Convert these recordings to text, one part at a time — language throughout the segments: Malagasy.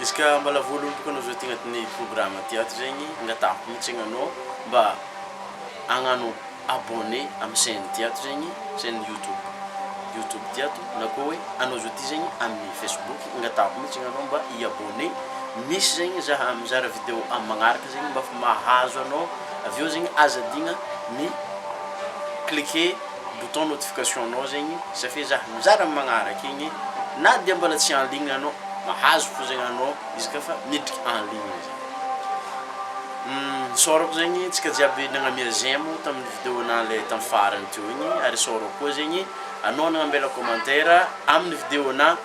Izy ka mbala voa lomboko anao zao ty agnatin'ny programa ty ato zegny angatahako mitsiny anao mba agnano abonné amy chaine ty ato zegny chaine youtube youtube ty ato na koa hoe anao zao ty zegny amy facebook angatahako mitsiny anao mba i abonné misy zegny za mizara video amy magnaraka zegny mba fa mahazo anao avy eo zegny aza adigna mi cliquer bouton notification nao zegny satria za mizara am magnaraka igny na dia mbola tsy en ligne anao mahazo fo zegny anao izy ka fa miditry en ligne zay isaorako zegny antsika jiaby nagnamia j'aime tamin'ny video na le tam farany teo igny ary isaorako koa zegny anao nagnambela commentaire amin'ny video na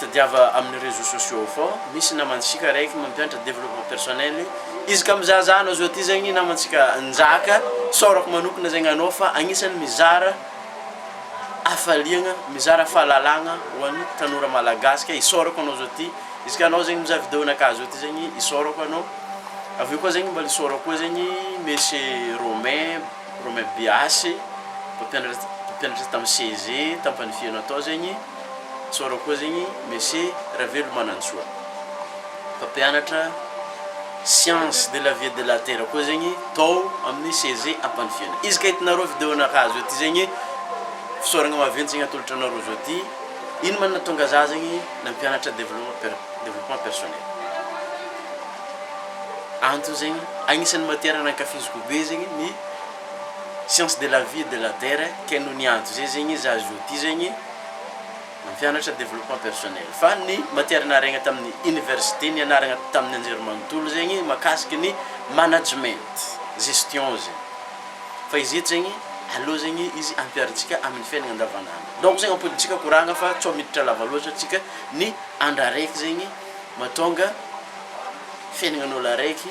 Tadiava amin'ny réseaux sociaux ao fao misy namantsika raiky mampiantra développement personnel izy ka mizaha zah anao zao ty zegny namantsika Njaka saorako manokana zegny anao fa agnisany mizara hafaliagna mizara fahalalagna ho an'ny tanora malagasy ka isaorako anao zao ty izy ka anao zegny mizaha video nakahy zao ty zegny isaorako anao avy eo koa zegny mbala isaorako koa zegny Messie Romain Romain Biasy mpampianatra mpampianatra tamin'ny CEG tam-panifiana tao zegny Tsôra koa zegny Messie Ravelomanantsoa. Mpampianatra science de la vie et de la terre koa zegny tao amin'ny CEG Ampanifiana. Izy ka hitanareo video nakazo eo ty zegny fisaoragna maventy zegny atolotro anareo zao ty. Ino ma nahatonga za zegny nampianatra développement per- développement personnel? Antony zegny agnisan'ny matière nankafiziko be zegny ny. science de la vie et de la terre kay no niantso zay zegny izy azo outil zegny mampianatra développement personnel fa ny matière nariagna tamin'ny université nianaragna tamin'ny anjerimanontolo zegny makasiky ny management gestion zegny fa izy eto zegny aleo zegny izy ampiarintsika amin'ny fiaignana andavanandro donc zegny ampodintsika koragna fa tsao miditra lava loatra tsika ny andra raiky zegny mahatonga fiaignan'olo araiky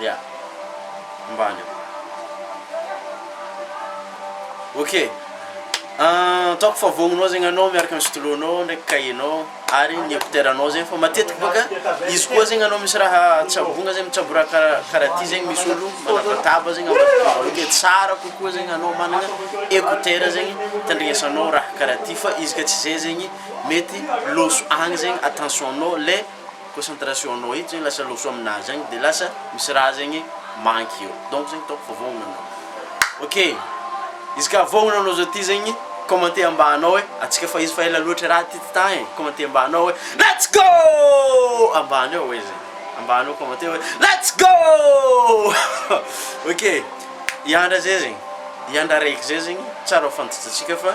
Ya. Ambany eo. Ok. Ataoko fa vognonao zegny anao miaraka ny stylo nao ndraiky cahier nao ary ny écouteur nao zegny fa matetiky bôka izy koa zegny anao misy raha tsabogna zegny mitsabo raha kara karaha ty zegny misy olo manabataba zegny ambadik'olo de tsara kokoa zegny anao magnana écouteur zegny itandregnesanao raha karaha ty fa izy ka tsy zay zegny mety loso agny zegny attention nao le concentration nao eto zegny lasa loso aminah zegny de lasa misy raha zegny manky eo donc zegny ataoko fa voahogno anao ok izy ka voahogno anao zao ty zegny commenter ambany ao e atsika fa izy fa ela loatra raha ty tità e commenter ambany ao e let's go ambany ao e zegny ambany ao commenter hoe let's go ok hiandra zay zegny hiandra araiky zay zegny tsara ho fantatsatsika fa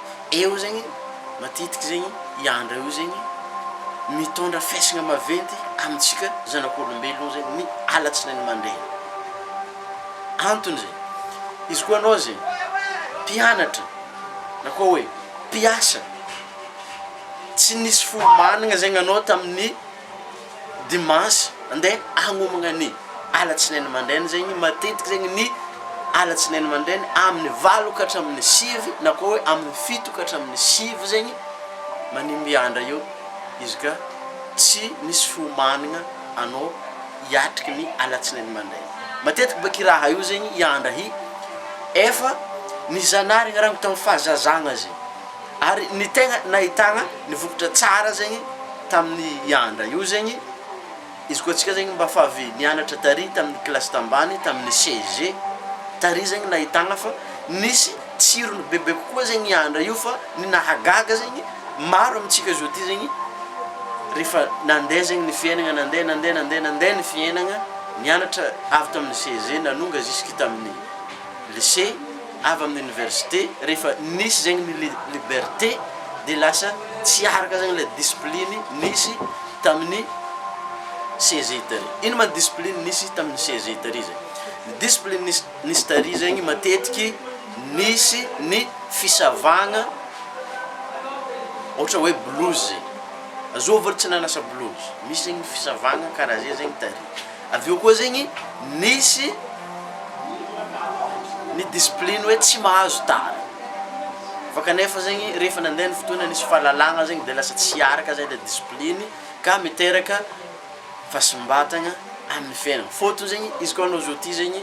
Eo zegny matetiky zegny i Andra io zegny mitondra fihaisigna maventy amintsika zanak'olombelogno zegny ny alatsinainy mandraigny, antony zegny izy koa anao zegny mpianatra na koa hoe mpiasa tsy nisy fo managna zegny anao tamin'ny. dimanche andeha hagnomagna ny alatsinainy mandraina zegny matetiky zegny ny alatsinainy mandraina amin'ny valo ka hatramin'ny sivy na koa hoe amin'ny fito ka hatramin'ny sivy zegny manimby andra eo izy ka tsy misy fiomanagna anao hiatriky ny alatsinainy mandraina matetiky baky raha io zegny i andra i efa nizanahary ny raha tamin'ny fahazazagna zegny Ary ny tegna nahitagna ny vokatra tsara zegny tamin'ny hiandra io zegny, izy koa antsika zegny mba fa avy nianatra tary tamin'ny kilasy tambany, tamin'ny CEG, tary zegny nahitagna fa nisy tsirony bebe kokoa zegny hiandra io fa ny nahagaga zegny maro amintsika zao ty zegny rehefa nandeha zegny ny fiainagna, nandeha nandeha nandeha nandeha ny fiainagna, nianatra avy tamin'ny CEG nanonga jusque tamin'ny lycée, avy amin'ny université rehefa nisy zegny ny liberté de lasa tsy araka zegny le discipline nisy tamin'ny CEGI tary. Ino ma ny discipline nisy tamin'ny CEGI tary zegny? Ny discipline nisy nisy tary zegny matetiky nisy ny fisavagna ohatra hoe blouse, azoa avo olo tsy nanasa blouse, misy zegny ny fisavagna karaha ze zegny tary. Avy eo koa zegny nisy ny discipline hoe tsy mahazo tara fa kanefa zegny rehefa nandeha ny fotoana nisy fahalalagna zegny de lasa tsy araka zay le discipline ka miteraka fahasimbatagna amin'ny fiainagna fôtony zegny izy koa anao zao ty zegny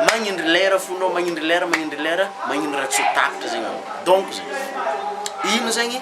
magnindry lera fo anao magnindry lera magnindry lera magnindry raha tsy ho tapitra zegny anao donc zegny ino zegny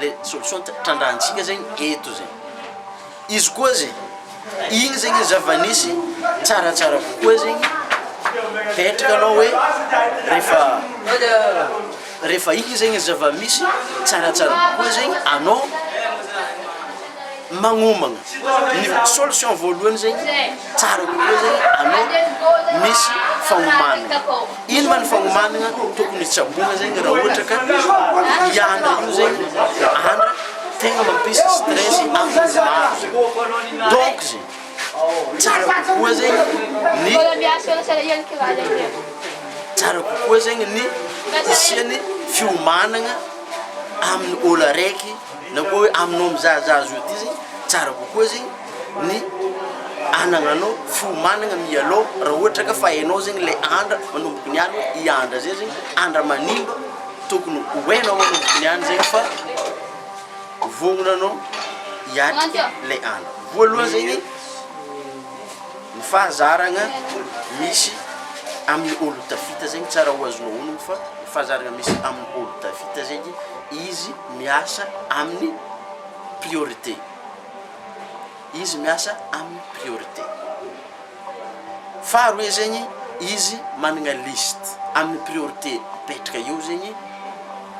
le solution trandrahantsika zegny eto zegny, izy koa zegny igny zegny zava-nisy tsaratsara kokoa zegny fetrika anao hoe rehefa rehefa igny zegny zava-misy tsaratsara kokoa zegny anao. magnomagna ny solution voalohany zegny tsara kokoa zegny anao misy fagnomanagna ino ma ny fagnomanagna tokony tsaboina zegny raha ohatra ka hianatra io zegny andra tegna mampisy stress amin'ny maro donc zegny tsara kokoa zegny ny tsara kokoa zegny ny hisian'ny fiomanagna amin'ny ôlo araiky Na koa hoe aminao mizahazaha azy io ity zay, tsara kokoa zay ny anagnanao fo managna mialao raha ohatra ka fa enao zegny le andra manomboka niany hoe i andra zay zegny andra manimba tokony ho enao manomboka niany zegny fa vognona anao hiatriky le andra voalohany zegny ny fahazaragna misy amin'ny olo tafita zegny tsara ho azonao onony fa ny fahazaragna misy amin'ny olo tafita zegny izy miasa amin'ny priorité, izy miasa amin'ny priorité. Faharoe zegny, izy managna liste, amin'ny priorité apetraka eo zegny,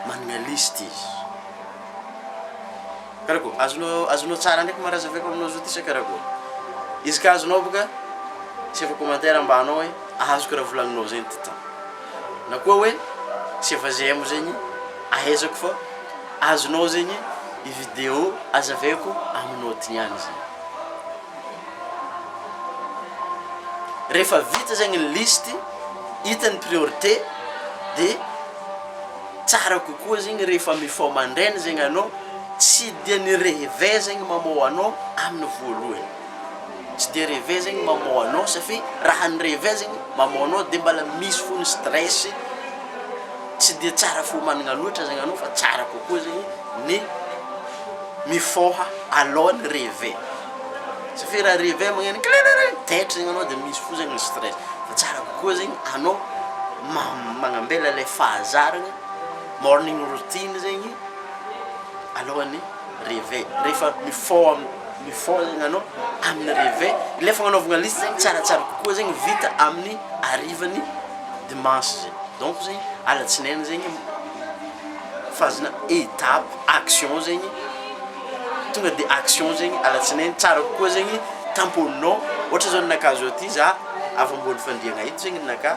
managna liste izy. Karakoa, azonao azonao tsara ndraiky ma raha zahaiko aminao zao ty sa karakoa? Izy ka azonao boka, asaivo commentaire ambanao hoe azoko raha volagninao zegny ty tôgna. na koa hoe tsy efa j'aime zegny ahaizako fa azonao zegny i video azavaiko amy note ihany zegny. Rehefa vita zegny ny liste hita ny priorité de tsara kokoa zegny rehefa mifoha mandraigny zegny anao tsy dia ny reve zegny mamoha anao amy ny voalohany. Tsy dia rêve zegny maman anao safi raha ny rêve zegny maman anao de mbala misy fo ny stress tsy dia tsara fo omanigna loatra zegny anao fa tsara kokoa zegny ny mifôha aloha ny rêve safi raha rêve magneno kiririririri taitra zegny anao de misy fo zegny ny stress fa tsara kokoa zegny anao ma- magnambela le fahazaragna morning routine zegny alohan'ny Réveil, rehefa mifao am, mifao zegny anao amin'ny réveil, ilay fagnanaovagna liste zegny tsaratsara kokoa zegny vita amin'ny harivan'ny dimanche zay, donc zegny alatsinainy zegny fazana étape action zegny, tonga de action zegny alatsinainy, tsara kokoa zegny tamponinao, ohatra zao ninakah zao ty za afa-boan'ny fandriagna ito zegny ninakah.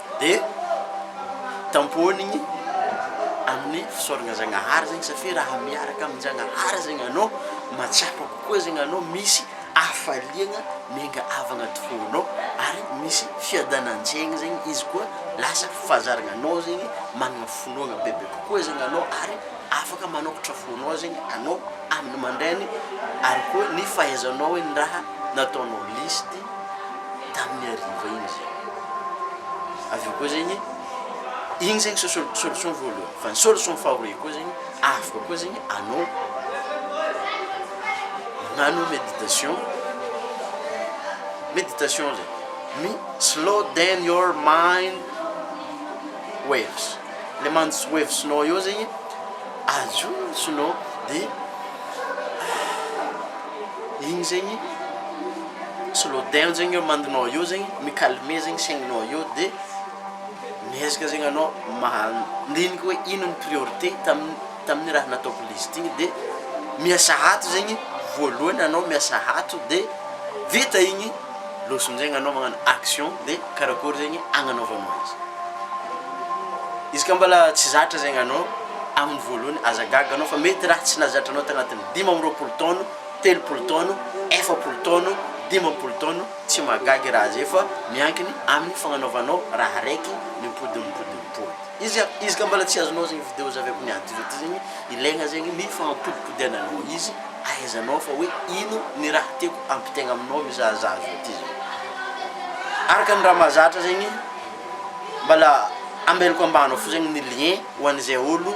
Dia tampohiny amin'ny fisaoragna Zagnahary zegny satria raha miaraka amin-Jagnahary zegny anao, mahatsapa kokoa zegny anao misy hafaliagna miainga avy agnaty fônao ary misy fiadanan-tsaigny zegny izy koa lasa fahazaragna anao zegny managna finoagna bebe kokoa zegny anao ary afaka manôkatra fônao zegny anao amin'ny aman-drainy ary koa ny fahaizanao hoe ny raha nataonao lisitry. tamin'ny hariva iny zay. Avy eo koa zegny, igny zegny sosol- solution voalohany. Fa ny solution faharoe koa zegny, afaka koa zegny anao magnano méditation, méditation zay, mi- slow down your mind waves, le mind waves-nao eo zegny ajonotsonao de. Igny zegny soloden zegny eo mandinao eo zegny mi calmer zegny saignanao eo de miezaka zegny anao mandinika hoe ino ny priorité tamin'ny tamin'ny raha nataoko liste igny de miasa ato zegny voalohany anao miasa ato de vita igny loso am'zegny anao magnano action de karakôry zegny agnanaovanao izy izy ka mbola tsy zatra zegny anao amin'ny voalohany aza gaga anao fa mety raha tsy nahazatra anao tagnatin'ny. dimy amby roapolo taona, telopolo taona, efapolo taona, dimampolo taona, tsy mahagaga raha zay fa miankina amin'ny fagnanaovanao raha raiky mimpodimpodimpody. Izy a, izy ka mbola tsy azonao zegny video zave aby niady zao ty zegny, ilaigna zegny ny fagnapodipodiananao izy, ahaizanao fa hoe ino ny raha tiako hampitaigna aminao mizahazaha zao ty zao. Araka ny raha mahazatra zegny, mbala ambelako ambany ao fo zegny ny lien ho an'izay olo.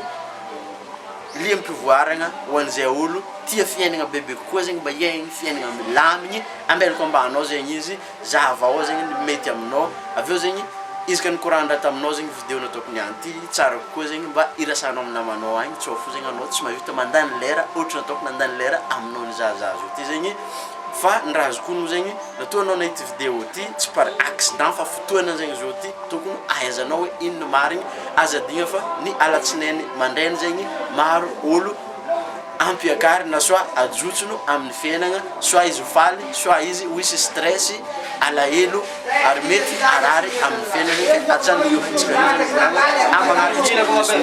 Liham-pivoaragna ho an'izay olo tia fiaignana bebe kokoa zegny mba hiaigny fiaignana milamigny, ambela kômbanao zegny izy, zahavao zegny ny mety aminao, avy eo zegny izy ka nikoragnin-draha taminao zegny video nataoko niany ty, tsara kokoa zegny mba irasahanao amin'ny namanao agny, tsao fo zegny anao tsy mahavita mandany lera ôhatra ny ataoko nandany lera aminao nizahazaha zao ty zegny. Fa ny raha azoko onony zegny raha toa anao nahita video ty tsy par accident fa fotoana zegny zao ty tokony ahaizanao hoe ino ny marigny aza adino fa ny alatsinainy mandraigny zegny maro olo ampiakary na soit ajotsono aminy fiainagna soit izy ho faly soit izy ho hisy stress alahelo ary mety harary aminy fiainagny ka atsanoy io fotsiny amana